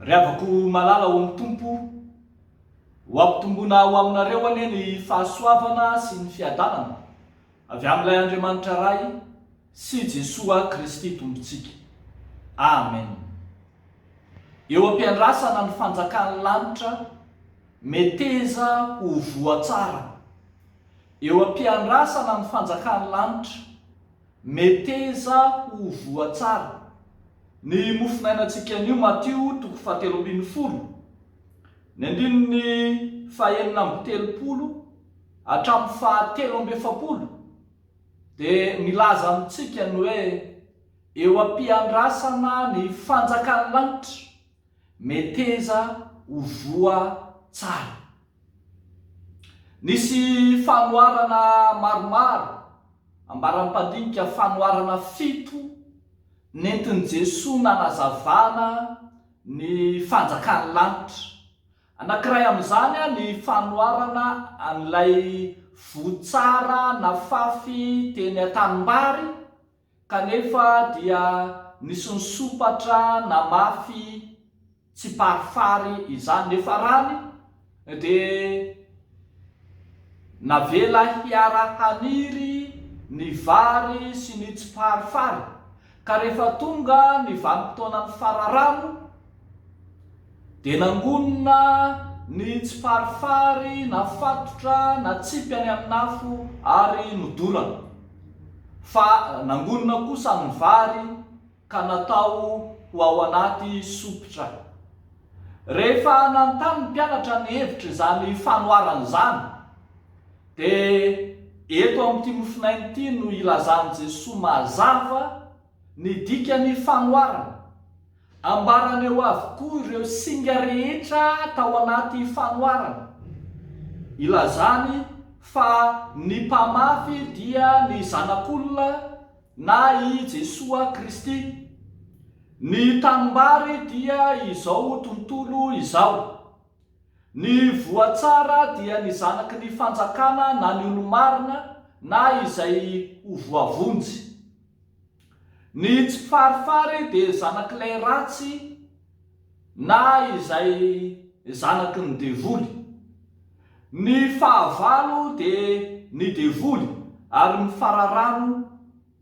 Ry havako malala ao amin'ny Tompo, ho ampitomboina ho aminareo anie ny fahasoavana sy ny fiadanana avy amin'Ilay Andriamanitra Ray, sy Jesoa Kristy Tompontsika. Amen. Eo am-piandrasana ny fanjakan'ny lanitra meteza ho voa tsara. Eo am-piandrasana ny fanjakan'ny lanitra meteza ho voa tsara. Ny mofo nainantsika anio Matio toko fahatelo ambin'ny folo, ny andininy fahenina amby telopolo hatramin'ny fahatelo amby efapolo. dia milaza amintsika ny hoe eo am-piandrasana ny fanjakan'ny lanitra, meteza ho voa tsara. Nisy fanoharana maromaro, ambaram-pandinika fanoharana fito, nentin'i Jesoa nanazavana ny fanjakan'ny lanitra. Anankiray amin'izany ny fanoharana an'ilay voa tsara nafafy teny an-tanimbary kanefa dia nisy nisompatra namafy tsiparifary izany nefa rany dia navela hiara-haniry ny vary sy ny tsiparifary. Ka rehefa tonga ny vanim-potoana mifara rano dia nangonina ny tsiparifary nafatotra natsipy any amin'afo ary nodorana, fa nangonina kosa ny vary ka natao ho ao anaty sompitra. Rehefa nanontany ny mpianatra ny hevitr'izany fanoharana izany, dia eto amin'ity mofonaina ity no ilazan'i Jesoa mazava ny dikan'ny fanoharana. Ambarany eo avokoa ireo singa rehetra tao anaty fanoharana. Ilazany fa ny mpamafy dia ny Zanak'olona. na i Jesoa Kristy. Ny tanimbary dia izao tontolo izao. Ny voa tsara dia ny zanaky ny fanjakana na ny olo-marina na izay ho voavonjy. Ny tsy farifary dia zanak'ilay ratsy. na izay zanaky ny devoly. Ny fahavalo dia ny devoly ary ny fararano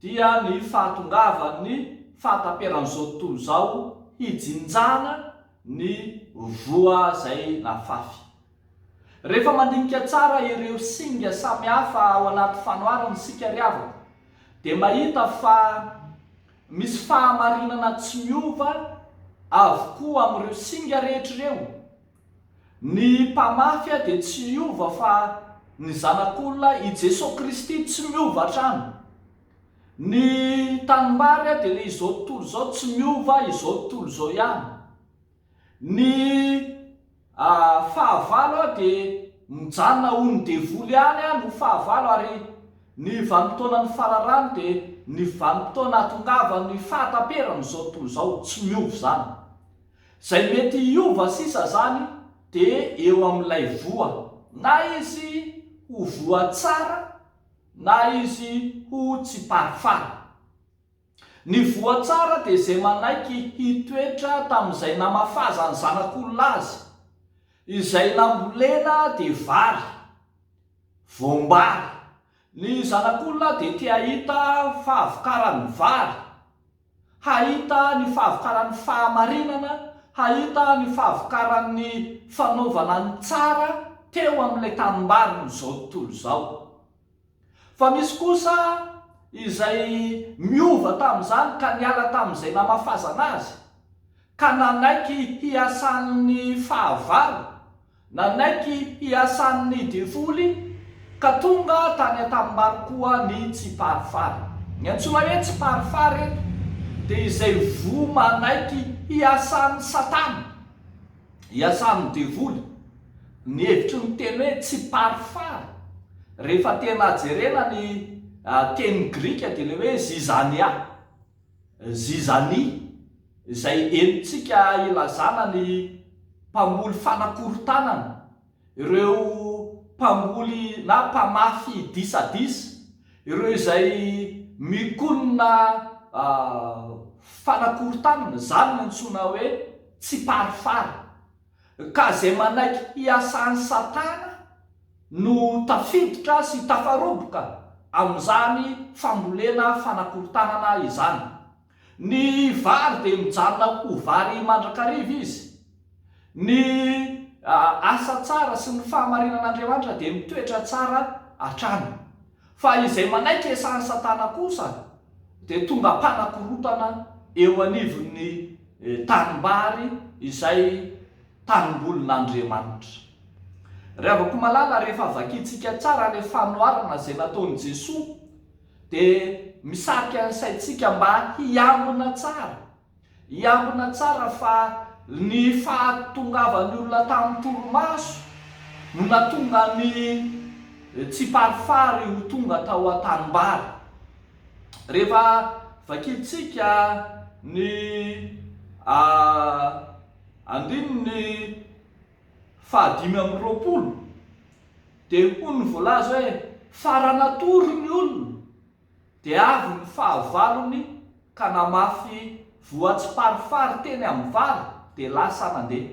dia ny fahatongavan'ny fahataperan'izao tontolo izao hijinjana ny voa izay nafafy. Rehefa mandinika tsara ireo singa samihafa ao anaty fanoharana isika ry havako dia mahita fa Misy fahamarinana tsy miova avokoa amin'ireo singa rehetra ireo. Ny mpamafy dia tsy hiova fa ny Zanak'olona, i Jesoa Kristy, tsy miova hatrany. Ny tanimbary dia ilay izao tontolo izao, tsy miova, izao tontolo izao ihany. Ny fahavalo aho dia mijanona ho ny devoly ihany aho no fahavalo ary ny vanim-potoanan'ny fararano dia ny vanim-potoana ahatongavan'ny fahataperan'izao tontolo izao, tsy miova izany. Izay mety hiova sisa izany dia eo amin'ilay voa, na izy ho voa tsara na izy ho tsiparifary. Ny voa tsara dia izay manaiky hitoetra tamin'izay namafazan'ny zanak'olona azy. Izay nambolena dia vary, voam-bary. Ny zanak'olona dia te hahita fahavokaran'ny vary, hahita ny fahavokaran'ny fahamarinana, hahita ny fahavokaran'ny fanaovana ny tsara teo amin'ilay tanimbarin'izao tontolo izao. Fa misy kosa izay miova tamin'izany ka niala tamin'izay namafazana azy, ka nanaiky hiasan'ny fahavalo, nanaiky hiasan'ny devoly, ka tonga tany an-tanimbary koa ny tsiparifary. Ny antsoina hoe tsiparifary eto dia izay voa manaiky hiasan'i Satana. iasan'ny devoly, ny hevitry ny teny hoe tsy parfara, rehefa tena jerena ny teny grika dia ilay hoe zizania, zizani, izay henontsika ilazana ny mpamoly fanakorontanana, ireo mpamboly na mpamafy disadisa, ireo izay mikonona fanakorontanana, izany no antsoina hoe tsiparifary, ka izay manaiky hiasa an'i Satana no tafiditra sy tafaroboka amin'izany fambolena fanakorontanana izany. Ny vary dia mijanona ho vary mandrakariva izy. Ny asa tsara sy ny fahamarinan'Andriamanitra dia mitoetra tsara hatrany. Fa izay manaiky esahan'i Satana kosa dia tonga mpanakorotana eo anivon'ny tanimbary izay tanimbolin'Andriamanitra. Ry havako malala, rehefa vakintsika tsara ilay fanoharana izay nataon'i Jesoa, Dia misarika ny saintsika mba hiambina tsara. Hiambina tsara fa ny fahatongavan'ny olona tamin'ny torimaso no nahatonga an'i Tsiparifary ho tonga tao an-tanimbary. Rehefa vakintsika ny andininy fahadimy amby roapolo dia hoy ny voalaza hoe faran'atory ny olona dia avy ny fahavalony ka namafy voatsiparifary teny amin'ny vary dia lasa nandeha.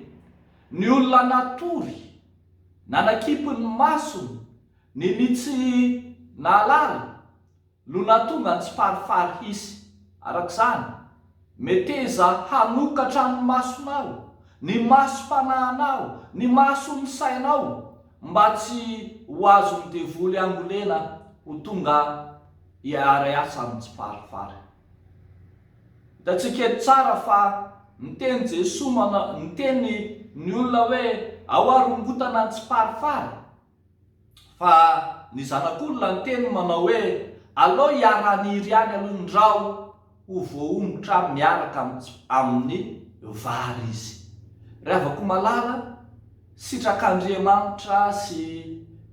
Ny olona natory, nanakipy ny masony, ny ny tsy nahalala no nahatonga ny tsiparifary hisy. Araka izany, meteza hanokatra ny masonao, ny masom-panahinao, ny mason'ny sainao mba tsy ho azon'ny devoly angolena ho tonga hiara-hiasa amin'ny tsiparifary. Hitantsika eto tsara fa niteny Jesoa, niteny ny olona hoe ahoa rongotana ny tsiparifary. Fa ny zanak'olona niteny ny manao hoe, Aleo iaraha-nihiry ihany aloha ny ra ho voaongotra miaraka amin'ny vary izy. Ry havako malala, sitrak'Andriamanitra sy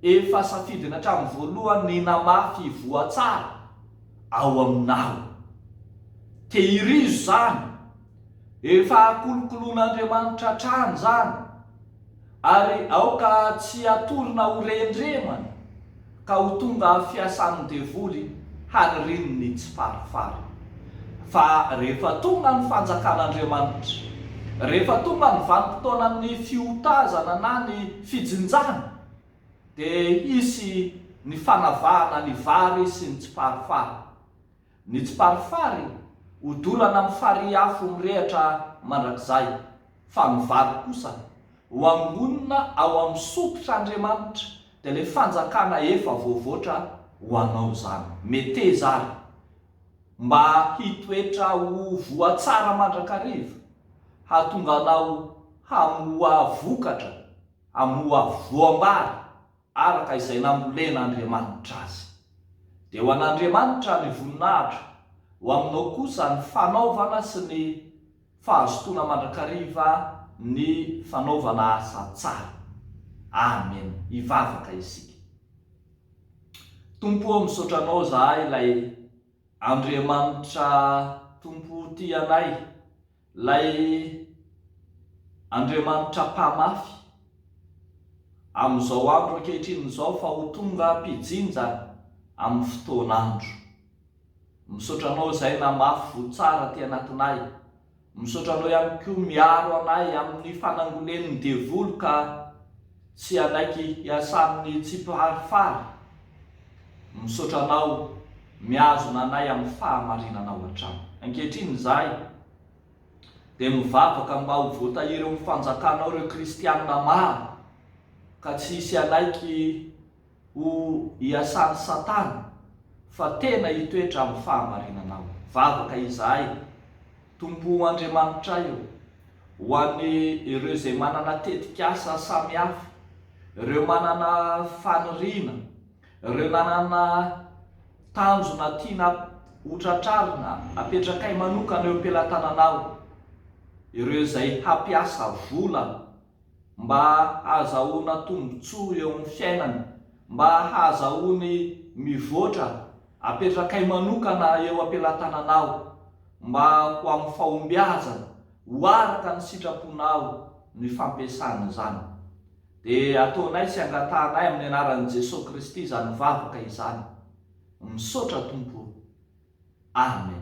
efa safidiny hatramin'ny voalohany ny hinamafy hivoha tsara ao aminao. Tehirizo izany! Efa akolokoloan'Andriamanitra hatrany izany, ary aoka tsy hatorina ho rendremana ka ho tonga fiasan'ny devoly haniriany ny tsiparifary. Fa rehefa tonga ny fanjakan'Andriamanitra, rehefa tonga ny vanim-potoanan'ny fiotazana na ny fijinjana, dia hisy ny fanavahana ny vary sy ny tsiparifary. Nitsiparifary, odorana amin'ny farihy afo mirehatra mandrakizay, fa ny vary kosa, ho angonina ao amin'ny sopitr'Andriamanitra, dia ilay fanjakana efa voavoatra ho anao izany. Meteza ary mba hitoetra ho voa tsara mandrakariva, hahatonga anao hamoa vokatra, hamoa voam-bary araka izay namolen'Andriamanitra azy. Dia ho an'Andriamanitra ny voninahitra, ho aminao kosa ny fanaovana sy ny fahazotoana mandrakariva ny fanaovana asa tsara. Amen. Hivavaka isika. Tompo ô, misaotra Anao izahay, ilay Andriamanitra Tompo tia anay. Ilay Andriamanitra mpamafy amin'izao andro ankehitriny izao fa ho tonga mpijinja amin'ny fotoan'andro. Misaotra anao izay namafy voa tsara aty anatinay. Misaotra anao ihany koa miaro anay amin'ny fanangolen'ny devoly ka. Tsy hanaiky hiasan'ny tsy mpihary fary. Misaotra anao mihazona anay amin'ny fahamarinanao hatrany. Ankehitriny izahay dia mivavaka mba ho voatahiry eo amin'ny fanjakanao ireo kristiana maro ka tsy hisy hanaiky ho iasan'i Satana fa tena hitoetra amin'ny fahamarinanao. Vavaka izahay, Tompo o Andriamanitray o, ho an'ny ireo izay manana tetikasa samihafa, ireo manana faniriana, ireo nanana tanjona tiana hotratrarina, apetrakay manokana eo am-pelatananao, ireo izay hampiasa vola, mba hahazahoana tombontsoa eo amin'ny fiainany, mba hahazahoany mivoatra, apetrakay manokana eo am-pelatananao, mba ho amin'ny fahombiazany, ho araka ny sitraponao ny fampiasana izany. Dia ataonay sy angatahanay amin'ny anaran'i Jesoa Kristy izany vavaka izany. Misaotra Tompo o. Amen.